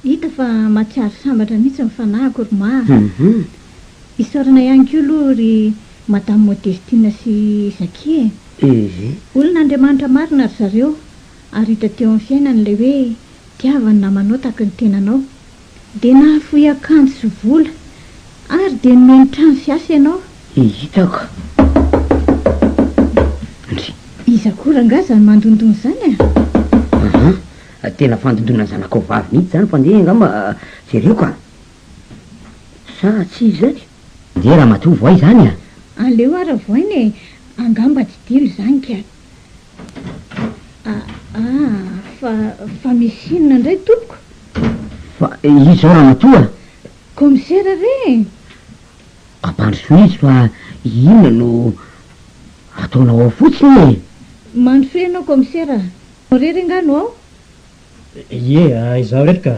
Hita fa mahatsiaro sambatra mihitsy ny fanahiko ry Mah a! Isaorana ihany koa aloha ry Madame Modestine sy Zacky e! Olona Andriamanitra marina ry zareo ary hita teo amin'ny fiainany ilay hoe tiava ny namanao tahaka ny tenanao. Dia nahafoy akanjo sy vola, ary dia nomeny trano sy asa ianao. Hitako. Ndry. Iza koa rangahy izany mandondona izany a? Ahaa, tena fandondona ny zanakao vavy mihitsy izany fa ndeha angamba jereko a! Sa tsy izy izany? Ndeha ramatoa voay izany a! Aleo ara voaina e! Angamba didilo izany ka! Fa fa misy inona indray tompoko? Fa izy izao ramatoa? Kaomisera re e! Ampandrosoy izy fa inona no ataonao ao fotsiny e? Mandrosoy ianao kaomisera. Irery angaha no ao? Ie, izaho irery ka.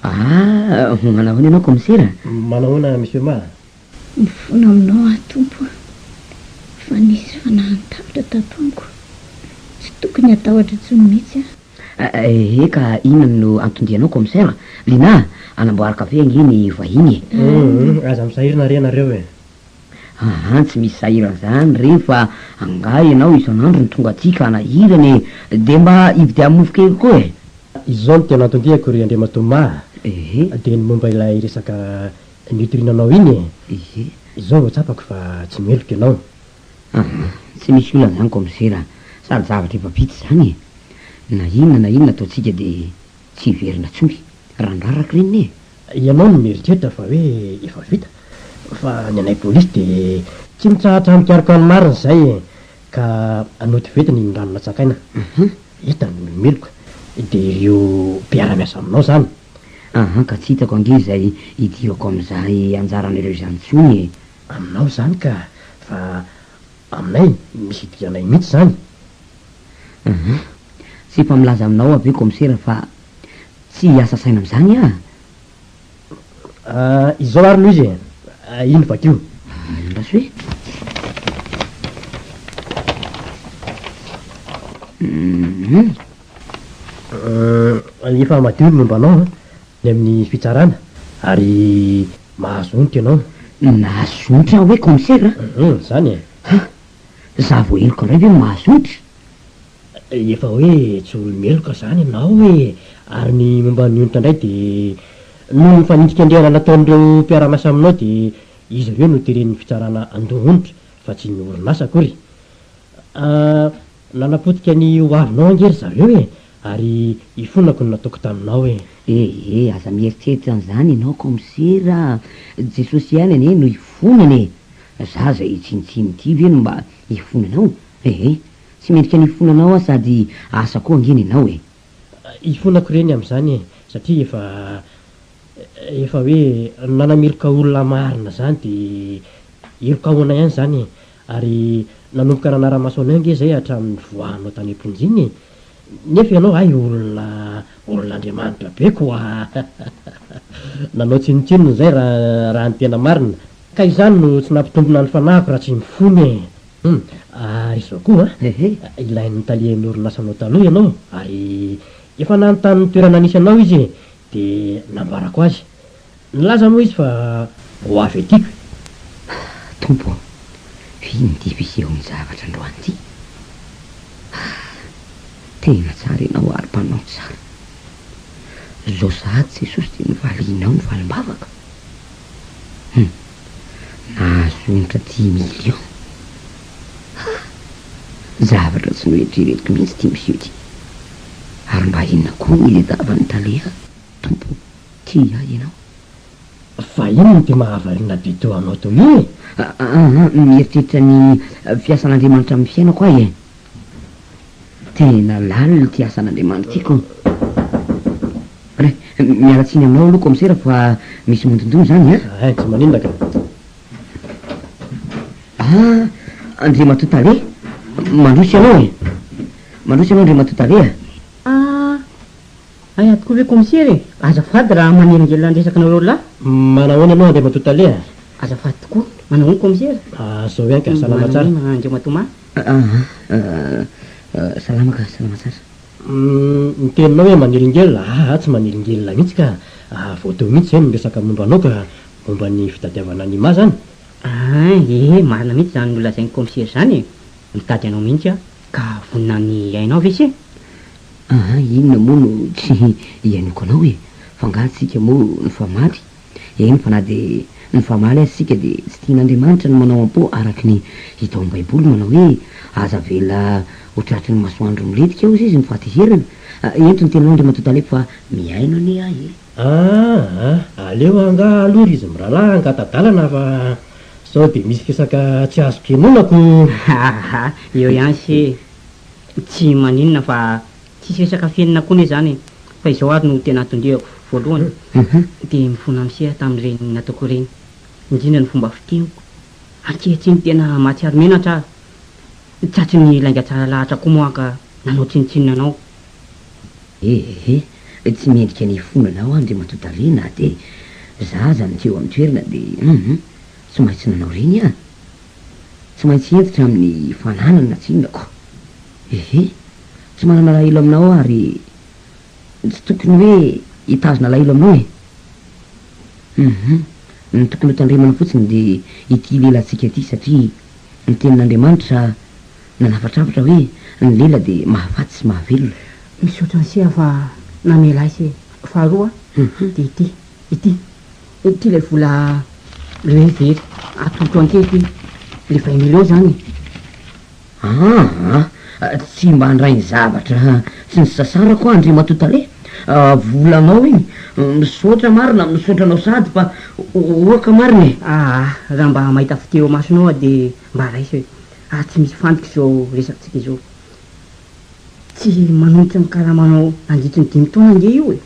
Ah, manao ahoana ianao kaomisera? Manahoana Monsieur Ma? Mifono aminao aho Tompo a! Fa nisy fanahiny tapitra tato amiko, tsy tokony hatahotra intsony mihitsy aho. Ee ka inona no anton-dianao Commissaire? Lina a! Anamboary kafe ange ny vahiny e! Hum, aza misahirana re nareo e! Aa tsy misy sahirana zany re fa angaha ianao isan'andro no tonga aty ka nahirana e! De mba ividiano mofo kely koa e! Izao no tena anton-diako ry Andriamatoa Mah, dia ny momba ilay resaka Nitoriana anao iny e! Ehe. Izao vao tsapako fa tsy miheloka ianao. Aha, tsy misy olana izany kaomisera a! Sady zavatra efa vita izany e! Na inona na inona ataontsika dia tsy hiverina intsony. Rangahy rakiriny e! Ianao no mieritreritra fa hoe efa vita, fa ny anay polisy dia tsy mitsahatra mikaroka ny marina izay e! Ka nody ventina iny rano natsakaina. Aha. Hita ny meloka. Dia ireo mpiara-miasa aminao izany. Ahan ka tsy hitako ange izay idirako amin'izay anjaran'ireo izany intsony e! Aminao izany ka, fa aminay misy idiranay mihitsy izany. Ahan, tsy efa milaza aminao aho ve kaomisera fa tsy hiasa saina amin'izany aho? Aah, izao ary no izy e! Iny vakio. Andraso e! Hum. Efa madio ny momba anao ny amin'ny fitsarana ary mahazo onitra ianao. Nahazo onitra aho hoe commissaire a? Hum, izany e! Ha! Za vao heloka indray ve no mahazo onitra? Efa hoe tsy olo-meloka izany ianao e! Ary ny momba ny onitra indray dia noho ny fanindrikendrehana nataon'ireo mpiara-miasa aminao dia izy ireo no teren'ny fitsarana handoa onitra fa tsy ny orinasa akory. Nanapotika ny ho avinao ange ry zareo e! Ary ifonako ny nataoko taminao e! E e, aza mieritreritra an'izany ianao kaomisera a! Jesosy ihany anie no ifonana e! Za izay tsinotsinona ity ve no mba hifona anao? E e, tsy mendrika ny hifona anao aho sady asa koa ange ny anao e! Ifonako ireny amin'izany e! Satria efa, efa hoe nanamiloka olona marina izany dia heloka ahoana ihany izany e! Ary nanomboka nanara-maso anay ange izay hatramin'ny nivoahanao tany am-ponja iny e! Nefa ianao hay olona olon'Andriamanitra be koa nanao tsinontsinona izay raha ny tena marina. Ka izany no tsy nampitombina ny fanahiko raha tsy mifona e! Hum, ary izao koa an! Ilain'ny talehan'ny orinasanao taloha ianao ary efa nanontany ny toerana nisy anao izy e! Dia nambarako azy. Nilaza moa izy fa ho avy aty ka. Ah, Tompo ô, vino ity mpiseho ny zavatra androany ity. Ah, tena tsara Ianao ary Mpanao ny tsara. Izao sahady Jesosy dia novalianao ny valim-bavaka. Hum, nahazo onitra dimy millions. Ah, zavatra tsy noeritreretiko mihitsy ity Monsieur ity. Ary mba inona koa no iledavan'ny tale ahy, Tompo ô? Tia ahy ianao. Fa inona ity mahavariana be teo anao teo io e? Aa, mieritreritra ny fiasan'Andriamanitra amin'ny fiainako aho e. Tena lalina ity asan'Andriamanitra ity ko. Re, miala tsiny aminao aloha kaomisera fa misy mondondona izany an! Ein, tsy maninona ka. Aa, Andriamatoa Tale, mandroso ianao e. Mandroso ianao Andriamatoa Tale a. Aa. Hay ato koa ve commissaire e! Azafady raha manelingelina ny resaka nareo lahy. Manahoana aloha Andriamatoa Tale a! Azafady tokoa. Manahoana commissaire? Ah zao ihany ka, salama tsara. Manahoana Andriamatoa Thomas? Ah ah, salama ka, salama tsara. Umm, ny teninao hoe manelingelina, aa tsy manelingelina mihitsy ka! Ah voadoa mihitsy izay ny miresaka momba anao ka! Momba ny fitadiavana an'i Ima zany? Ah ee, marina mihitsy izany nolazain'i commissaire izany e! Mitady anao mihitsy aho ka vonona ny hiainao ve se? Aa inona moa no tsy hianiako anao e? F'angaha tsika moa nifamaly? Eny fa na dia nifamaly aza isika dia tsy tian'Andriamanitra ny manao am-po araka ny hita ao am-baiboly manao hoe aza avela ho tratry ny masoandro milentika hozy izy ny fahatezerana. Ento ny teninao Andriamatoa Taleb fa mihaino anie ahy e! Aa aleo angaha aloha ry izy mirahalahy hangata-dalana fa sao dia misy resaka tsy azoko henonako! Aa eo ihany se e! Tsy maninona fa tsisy resaka fenina koa anie izany e! Fa izao ary no tena tondrehako, voalohany dia mifona miseha tamin'ireny nataoko ireny, indrindra ny fomba fiteny, ankehitriny tena mahatsiaro menatra aho, tratrin'ny lainga tsara lahatra koa moa ka nanao tsinontsinona anao. Ehe, tsy mendrika ny hifona anao aho Andriamatoa Tarehy na dia za aza no tsy eo amin'ny toerana dia hum, tsy maintsy nanao ireny aho. Tsy maintsy hentitra amin'ny fananana tsinako. Ehe. Tsy manana alahelo aminao aho ary tsy tokony hoe hitazona alahelo aminao e. Humm. Ny tokony ho tandremana fotsiny dia ity lelantsika ity satria ny tenin'Andriamanitra nanafatrafatra hoe ny lela dia mahafaty sy mahavelona. Misaotra an'se fa namela ahy se. Faharoa dia ity. Ity, ity ilay vola le hoe very atolotro an'ity ity, le vingt millions zany e. Aa! tsy mba handray ny zavatra tsy nisasarako aho Andriamatoa Tale a! volanao iny, misaotra marina, misaotra anao sady fa oaka marina e! Aa! raha mba mahita fite eo amasonao aho dia mba raiso e! ary tsy misy fandrika izao resakantsika izao, tsy manonitra ny karamanao nandritry ny dimy taona ange io e!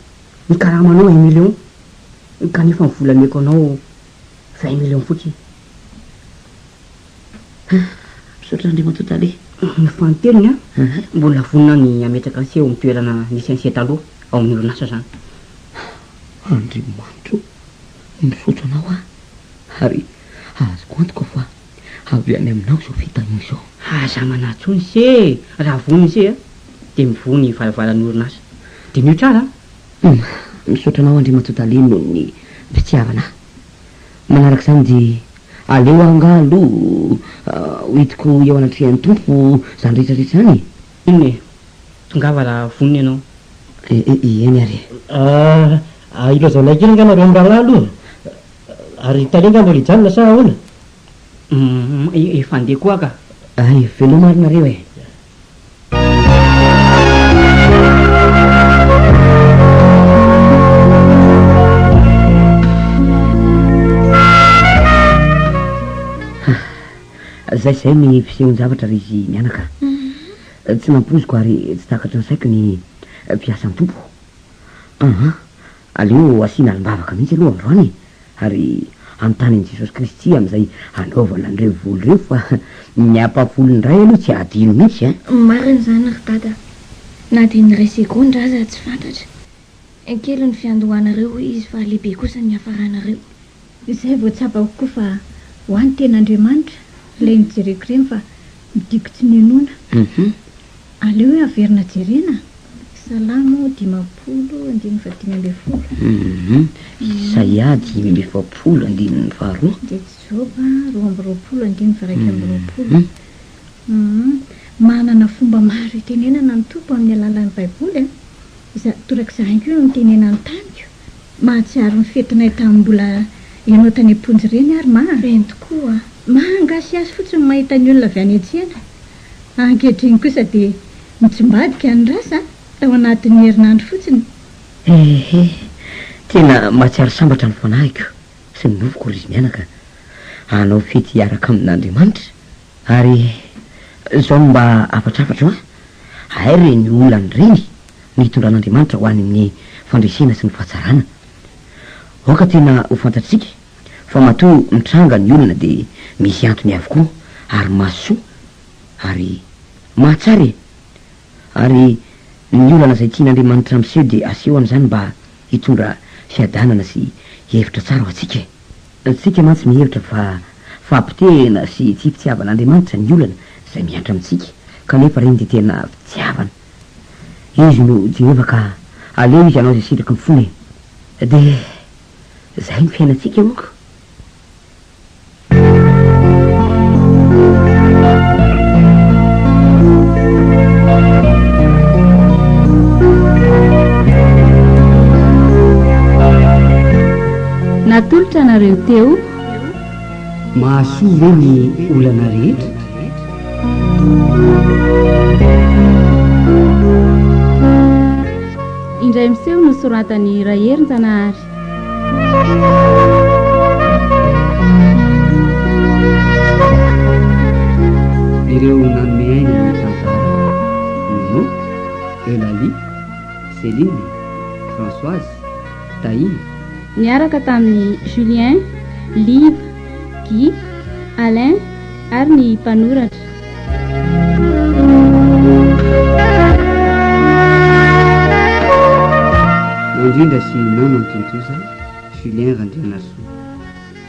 Ny karamanao un million kanefa ny vola omeko anao vingt millions fotsiny. Misaotra Andriamatoa Tale. Ny fanintelony an, mbola vonona ny hametraka an'se eo amin'ny toerana nisy an'se taloha ao amin'ny orinasa izany. Andriamanitra o, misaotra anao aho ary azoko antoka fa. Avy any aminao izao fitahiana izao. Aza manatso ny se e! Raha voa ny se a! Dia mivoha ny varavaran'ny orinasa. Diniho tsara a! Humm! Misaotra anao Andriamatoa Tale noho ny fitiavana ahy. Manaraka izany dia aleo aho angaha aloha hoentiko eo anatrehan'ny Tompo izany rehetra rehetra izany e! Inona e? Tongava raha vonona ianao. E-e-e, eny ary e. Ah, ilazanay kely angaha nareo mirahalahy aloha. Ary tale angaha mbola hijanona sa ahoana? Hum, efa handeha koa ka. Hay, veloma ary nareo e. Zay zay ny fisehoan-javatra ry zy mianaka. Tsy nampoiziko ary tsy takatry ny saiko ny mpiasan'ny Tompo. Aha, aleo asiana alim-bavaka mihitsy aloha androany e, ary anontany an'i Jesosy Kristy amin'izay hanaovana an'ireo voly ireo fa ny ampahafolo indray aloha tsy hadino mihitsy e. Marina izany ry Dada, na dia ny iray segondra aza tsy fantatra. Kely ny fiandohanareo hoy izy fa lehibe kosa ny hiafaranareo. Izay vao tsapako koa fa ho any tena Andriamanitra ilay nojereko ireny fa midiko tsy nionona. Aleo hoe averina jerena Salamo dimampolo andininy fahadimy ambin'ny folo. Isaia dimy amby efapolo andininy faharoa. Dia Joba roa amby roapolo andininy faha-iraika amby roapolo. Manana fomba maro itenenana ny Tompo amin'ny alalan'ny Baiboly. Izay torak'izany koa no nitenenany tamiko. Mahatsiaro ny fetinay tamin'ny mbola ianao tany am-ponja ireny aho ry Mah a! Eny tokoa a! Mah a! Mahagasiasy fotsiny ny mahita ny olona avy any an-tsena. Ankehitriny kosa dia mitsimbadika ny rasa tao anatin'ny herinandro fotsiny. Ehe! Tena mahatsiaro sambatra ny fanahiko sy ny nofoko ry zmianaka a! Hanao fety hiaraka amin'Andriamanitra Ary zao no mba hafatrafatro an! Hay re ny olany reny no hitondran'Andriamanitra ho any amin'ny fandresena sy ny fahatsarana. Aoka tena ho fantatsika fa matoa mitranga ny olana dia misy antony avokoa ary mahasoa ary mahatsara e! Ary ny olana izay tian'Andriamanitra miseho dia aseho amin'izany mba hitondra fiadanana sy hevitra tsara ho antsika e! Isika mantsy mihevitra fa fahapotehina sy tsy fitiavan'Andriamanitra ny olana izay miantra amintsika, kanefa reny dia tena fitiavana. Izy no Jehovah ka aleo izy hanao izay sitraky ny fony e! Dia izay ny fiainantsika moa ka! Natolotra anareo teo. Mahasoa ve ny olana rehetra? Indray miseho no soratan'i Raherinjanahary. Ireo nanome aina ny tantara, Nono, Eulalie, Céline, Françoise, Dahila. Niaraka tamin'i Julien, Liva, Guy, Alain ary ny mpanoratra. Nandrindra sy nanao ny tontosa, Julien Randrianasoa.